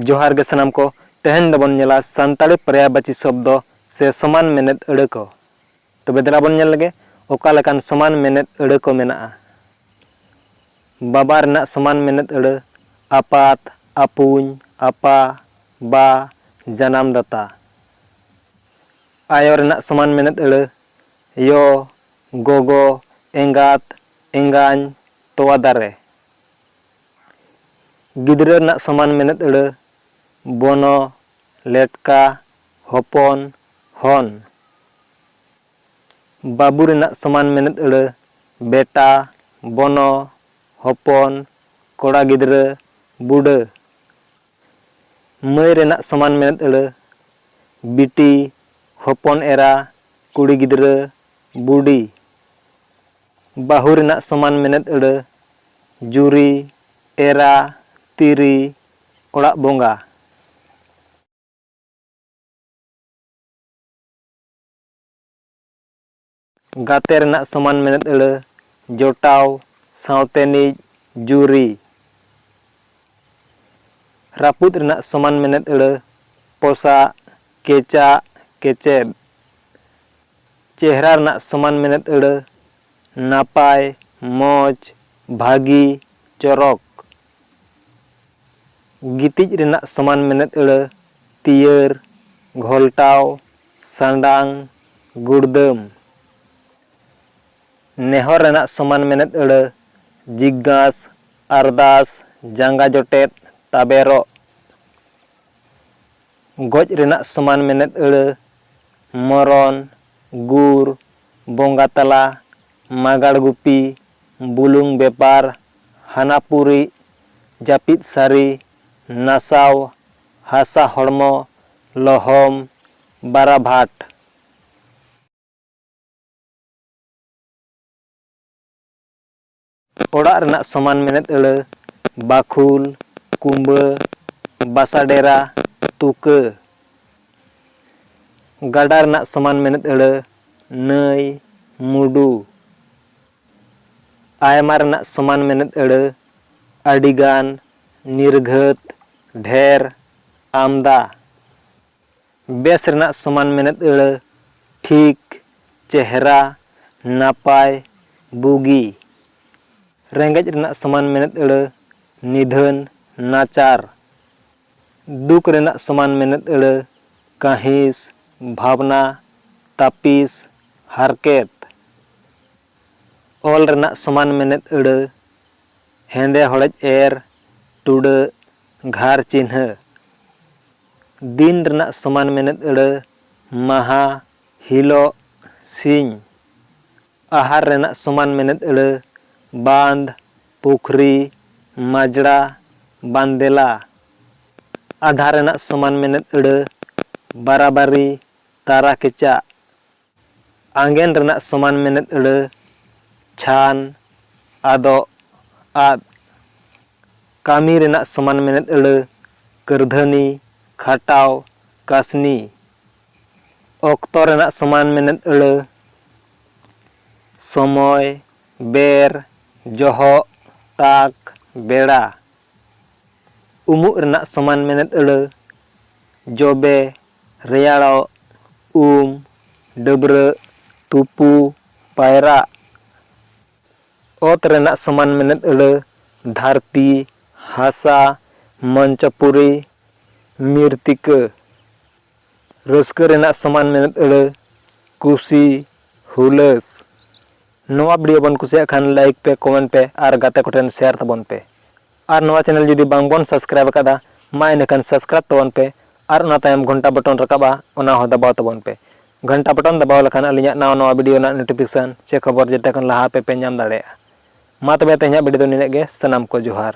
ᱡᱚᱦᱟᱨ ᱜᱮ ᱥᱟᱱᱟᱢ ᱠᱚ ᱛᱮᱦᱮᱧ ᱫᱚᱵᱚᱱ ᱧᱮᱞᱟ ᱥᱟᱱᱛᱟᱲᱤ ᱯᱨᱟᱭᱟᱵᱟᱪᱤ ᱥᱚᱵᱫᱚ ᱥᱮ ᱥᱚᱢᱟᱱ ᱢᱮᱱᱮᱫ ᱟᱹᱲᱟᱹ ᱠᱚ ᱛᱚᱵᱮ ᱫᱮᱞᱟ ᱵᱚᱱ ᱧᱮᱞ ᱞᱮᱜᱮ ᱚᱠᱟ ᱞᱮᱠᱟᱱ ᱥᱚᱢᱟᱱ ᱢᱮᱱᱮᱫ ᱟᱹᱲᱟᱹ ᱠᱚ ᱢᱮᱱᱟᱜᱼᱟ ᱵᱟᱵᱟ ᱨᱮᱱᱟᱜ ᱥᱚᱢᱟᱱ ᱢᱮᱱᱮᱫ ᱟᱹᱲᱟᱹ ᱟᱯᱟᱛ ᱟᱯᱩᱧ ᱟᱯᱟ ᱵᱟ ᱡᱟᱱᱟᱢ ᱫᱟᱛᱟ ᱟᱭᱚ ᱨᱮᱱᱟᱜ ᱥᱚᱢᱟᱱ ᱢᱮᱱᱮᱛ ᱟᱹᱲᱟᱹ, ᱭᱚ, ᱜᱚᱜᱚ, ᱮᱸᱜᱟᱛ, ᱮᱸᱜᱟᱧ, ᱛᱚᱣᱟ ᱫᱟᱨᱮ᱾ ᱜᱤᱫᱽᱨᱟᱹ ᱨᱮᱱᱟᱜ ᱥᱚᱢᱟᱱ ᱢᱮᱱᱮᱛ ᱟᱹᱲᱟᱹ, ᱵᱚᱱᱚ, ᱞᱮᱴᱠᱟ, ᱦᱚᱯᱚᱱ, ᱦᱚᱱ᱾ ᱵᱟᱹᱵᱩ ᱨᱮᱱᱟᱜ ᱥᱚᱢᱟᱱ ᱢᱮᱱᱮᱛ ᱟᱹᱲᱟᱹ, ᱵᱮᱴᱟ, ᱵᱚᱱᱚ, ᱦᱚᱯᱚᱱ, ᱠᱚᱲᱟ ᱜᱤᱫᱽᱨᱟᱹ, ᱵᱩᱰᱟᱹ᱾ ᱢᱟᱹᱭ ᱨᱮᱱᱟᱜ ᱥᱚᱢᱟᱱ ᱢᱮᱱᱮᱛ ᱟᱹᱲᱟᱹ, ᱵᱤᱴᱤ, ᱦᱚᱯᱚᱱ ᱮᱨᱟ, ᱠᱩᱲᱤ ᱜᱤᱫᱽᱨᱟᱹ, ᱵᱩᱰᱤ᱾ ᱵᱟᱹᱦᱩ ᱨᱮᱱᱟᱜ ᱥᱚᱢᱟᱱ ᱢᱮᱱᱮᱛ ᱟᱹᱲᱟᱹ, ᱡᱩᱨᱤ, ᱮᱨᱟ, ᱛᱤᱨᱤ, ᱚᱲᱟᱜ ᱵᱚᱸᱜᱟ᱾ ᱜᱟᱛᱮ ᱨᱮᱱᱟᱜ ᱥᱚᱢᱟᱱ ᱢᱮᱱᱮᱛ ᱟᱹᱲᱟᱹ ᱡᱚᱴᱟᱣ ᱥᱟᱶᱛᱮᱱᱤᱡ ᱡᱩᱨᱤ᱾ ᱨᱟᱹᱯᱩᱫ ᱨᱮᱱᱟᱜ ᱥᱚᱢᱟᱱ ᱢᱮᱱᱮᱛ ᱟᱹᱲᱟᱹ ᱯᱚᱥᱟᱜ, ᱠᱮᱪᱟᱜ, ᱠᱮᱪᱮᱫ᱾ ᱪᱮᱦᱨᱟ ᱨᱮᱱᱟᱜ ᱥᱚᱢᱟᱱ ᱢᱮᱱᱮᱛ ᱟᱹᱲᱟᱹ ᱱᱟᱯᱟᱭ, ᱢᱚᱡᱽ, ᱵᱷᱟᱹᱜᱤ, ᱪᱚᱨᱚᱠ᱾ ᱜᱤᱛᱤᱡ ᱨᱮᱱᱟᱜ ᱥᱚᱢᱟᱱ ᱢᱮᱱᱮᱛ ᱟᱹᱲᱟᱹ, ᱛᱤᱭᱟᱹᱨ, ᱜᱷᱚᱞᱴᱟᱣ, ᱥᱟᱸᱰᱟᱝ, ᱜᱩᱲᱫᱟᱹᱢ᱾ ᱱᱮᱦᱚᱨ ᱨᱮᱱᱟᱜ ᱥᱚᱢᱟᱱ ᱢᱮᱱᱮᱛ ᱟᱹᱲᱟᱹ, ᱡᱤᱜᱽᱜᱟᱸᱥ, ᱟᱨᱫᱟᱥ, ᱡᱟᱸᱜᱟ ᱡᱚᱴᱮᱫ, ᱛᱟᱵᱮᱨᱚᱜ᱾ ᱜᱚᱡ ᱨᱮᱱᱟᱜ ᱥᱚᱢᱟᱱ ᱢᱮᱱᱮᱛ ᱟᱹᱲᱟᱹ, ᱢᱚᱨᱚᱱ, ᱜᱩᱨ, ᱵᱚᱸᱜᱟ ᱛᱟᱞᱟ, ᱢᱟᱜᱟᱲ ᱜᱩᱯᱤ, ᱵᱩᱞᱩᱝ ᱵᱮᱯᱟᱨ, ᱦᱟᱱᱟᱯᱩᱨᱤᱜ, ᱡᱟᱹᱯᱤᱫ ᱥᱟᱹᱨᱤ, ᱱᱟᱥᱟᱣ, ᱦᱟᱥᱟ ᱦᱚᱲᱢᱚ, ᱞᱚᱦᱚᱢ, ᱵᱟᱨᱟᱵᱷᱟᱴ᱾ ᱚᱲᱟᱜ ᱨᱮᱱᱟᱜ ᱥᱚᱢᱟᱱ ᱢᱮᱱᱮᱛ ᱟᱹᱲᱟᱹ, ᱵᱟᱠᱷᱩᱞ, ᱠᱩᱸᱵᱟᱹ, ᱵᱟᱥᱟ ᱰᱮᱨᱟ, ᱛᱩᱠᱟᱹ᱾ ᱜᱟᱰᱟ ᱨᱮᱱᱟᱜ ᱥᱚᱢᱟᱱ ᱢᱮᱱᱮᱛ ᱟᱹᱲᱟᱹ, ᱱᱟᱹᱭ, ᱢᱩᱰᱩ᱾ ᱟᱭᱢᱟ ᱨᱮᱱᱟᱜ ᱥᱚᱢᱟᱱ ᱢᱮᱱᱮᱛ ᱟᱹᱲᱟᱹ, ᱟᱹᱰᱤ ᱜᱟᱱ, ᱱᱤᱨᱜᱷᱟᱹᱛ, ᱰᱷᱮᱨ, ᱟᱢᱫᱟ᱾ ᱵᱮᱥ ᱨᱮᱱᱟᱜ ᱥᱚᱢᱟᱱ ᱢᱮᱱᱮᱛ ᱟᱹᱲᱟᱹ, ᱴᱷᱤᱠ, ᱪᱮᱦᱨᱟ, ᱱᱟᱯᱟᱭ, ᱵᱩᱜᱤ᱾ ᱨᱮᱸᱜᱮᱡ ᱨᱮᱱᱟᱜ ᱥᱚᱢᱟᱱ ᱢᱮᱱᱮᱛ ᱟᱹᱲᱟᱹ, ᱱᱤᱫᱷᱟᱹᱱ, ᱱᱟᱪᱟᱨ᱾ ᱫᱩᱠ ᱨᱮᱱᱟᱜ ᱥᱚᱢᱟᱱ ᱢᱮᱱᱮᱛ ᱟᱹᱲᱟᱹ, ᱠᱟᱺᱦᱤᱥ, ᱵᱷᱟᱵᱽᱱᱟ, ᱛᱟᱹᱯᱤᱥ, ᱦᱟᱨᱠᱮᱛ᱾ ᱚᱞ ᱨᱮᱱᱟᱜ ᱥᱚᱢᱟᱱ ᱢᱮᱱᱮᱛ ᱟᱹᱲᱟᱹ, ᱦᱮᱸᱫᱮ ᱦᱚᱲᱮᱡ ᱮᱨ, ᱴᱩᱰᱟᱹᱜ, ᱜᱷᱟᱨ ᱪᱤᱱᱦᱟᱹ᱾ ᱫᱤᱱ ᱨᱮᱱᱟᱜ ᱥᱚᱢᱟᱱ ᱢᱮᱱᱮᱛ ᱟᱹᱲᱟᱹ, ᱢᱟᱦᱟ, ᱦᱤᱞᱚᱜ, ᱥᱤᱧ᱾ ᱟᱦᱟᱨ ᱨᱮᱱᱟᱜ ᱥᱚᱢᱟᱱ ᱢᱮᱱᱮᱛ ᱟᱹᱲᱟᱹ, ᱵᱟᱸᱫᱽ, ᱯᱩᱠᱷᱨᱤ, ᱢᱟᱡᱽᱲᱟ, ᱵᱟᱸᱫᱮᱞᱟ᱾ ᱟᱫᱷᱟ ᱨᱮᱱᱟᱜ ᱥᱚᱢᱟᱱ ᱢᱮᱱᱮᱛ ᱟᱹᱲᱟᱹ, ᱵᱟᱨᱟᱵᱟᱨᱤ, ᱛᱟᱨᱟ ᱠᱮᱪᱟᱜ᱾ ᱟᱸᱜᱮᱱ ᱨᱮᱱᱟᱜ ᱥᱚᱢᱟᱱ ᱢᱮᱱᱮᱛ ᱟᱹᱲᱟᱹ ᱪᱷᱟᱱ, ᱟᱫᱚᱜ, ᱟᱫ᱾ ᱠᱟᱹᱢᱤ ᱨᱮᱱᱟᱜ ᱥᱚᱢᱟᱱ ᱢᱮᱱᱮᱛ ᱟᱹᱲᱟᱹ ᱠᱟᱹᱨᱫᱷᱟᱹᱱᱤ, ᱠᱷᱟᱴᱟᱣ, ᱠᱟᱹᱥᱱᱤ᱾ ᱚᱠᱛᱚ ᱨᱮᱱᱟᱜ ᱥᱚᱢᱟᱱ ᱢᱮᱱᱮᱛ ᱟᱹᱲᱟᱹ ᱥᱚᱢᱚᱭ, ᱵᱮᱨ, ᱡᱚᱦᱚᱜ, ᱛᱟᱠ, ᱵᱮᱲᱟ᱾ ᱩᱢᱩᱜ ᱨᱮᱱᱟᱜ ᱥᱚᱢᱟᱱ ᱢᱮᱱᱮᱛ ᱟᱹᱲᱟᱹ ᱡᱚᱵᱮ, ᱨᱮᱭᱟᱲᱚᱜ, ᱩᱢ, ᱰᱟᱹᱵᱽᱨᱟᱹᱜ, ᱛᱩᱯᱩ, ᱯᱟᱭᱨᱟᱜ, ᱚᱛ ᱨᱮᱱᱟᱜ ᱥᱚᱢᱟᱱ ᱢᱮᱱᱮᱛ ᱟᱹᱲᱟᱹ, ᱫᱷᱟᱹᱨᱛᱤ, ᱦᱟᱥᱟ, ᱢᱚᱧᱪᱚᱯᱩᱨᱤ, ᱢᱤᱨᱛᱤᱠᱟᱹ, ᱨᱟᱹᱥᱠᱟᱹ ᱨᱮᱱᱟᱜ ᱥᱚᱢᱟᱱ ᱢᱮᱱᱮᱛ ᱟᱹᱲᱟᱹ, ᱠᱩᱥᱤ, ᱦᱩᱞᱟᱹᱥ᱾ ᱱᱚᱣᱟ ᱵᱷᱤᱰᱤᱭᱳ ᱵᱚᱱ ᱠᱩᱥᱤᱭᱟᱜ ᱠᱷᱟᱱ ᱞᱟᱭᱤᱠ ᱯᱮ ᱠᱚᱢᱮᱱᱴ ᱯᱮ ᱟᱨ ᱜᱟᱛᱮ ᱠᱚᱴᱷᱮᱱ ᱥᱮᱭᱟᱨ ᱛᱟᱵᱚᱱ ᱯᱮ ᱟᱨ ᱱᱚᱣᱟ ᱪᱮᱱᱮᱞ ᱡᱩᱫᱤ ᱵᱟᱝ ᱵᱚᱱ ᱥᱟᱵᱥᱠᱨᱟᱭᱤᱵ ᱟᱠᱟᱫᱟ ᱢᱟ ᱤᱱᱟᱹᱠᱷᱟᱱ ᱥᱟᱵᱥᱠᱨᱟᱭᱤᱵ ᱛᱟᱵᱚᱱ ᱯᱮ ᱟᱨ ᱚᱱᱟ ᱛᱟᱭᱚᱢ ᱜᱷᱚᱱᱴᱟ ᱵᱚᱴᱚᱱ ᱨᱟᱠᱟᱵᱟ ᱚᱱᱟ ᱦᱚᱸ ᱫᱟᱵᱟᱣ ᱛᱟᱵᱚᱱ ᱯᱮ ᱜᱷᱚᱱᱴᱟ ᱵᱚᱴᱚᱱ ᱫᱟᱵᱟᱣ ᱞᱮᱠᱷᱟᱱ ᱟᱹᱞᱤᱧᱟᱜ ᱱᱟᱣᱟ ᱱᱟᱣᱟ ᱵᱷᱤᱰᱤᱭᱳ ᱨᱮᱱᱟᱜ ᱱᱳᱴᱤᱯᱷᱤᱠᱮᱥᱚᱱ ᱪᱮ ᱠᱷᱚᱵᱚᱨ ᱡᱮᱛᱮ ᱠᱷᱚᱱ ᱞᱟᱦᱟ ᱟᱯᱮ ᱯᱮ ᱧᱟᱢ ᱫᱟᱲᱮᱭᱟᱜᱼᱟ ᱢᱟ ᱛᱚᱵᱮ ᱛᱮᱦᱮᱧᱟᱜ ᱵᱷᱤᱰᱤᱭᱳ ᱫᱚ ᱱᱤᱱᱟᱹᱜ ᱜᱮ ᱥᱟᱱᱟᱢ ᱠᱚ ᱡᱚᱦᱟᱨ᱾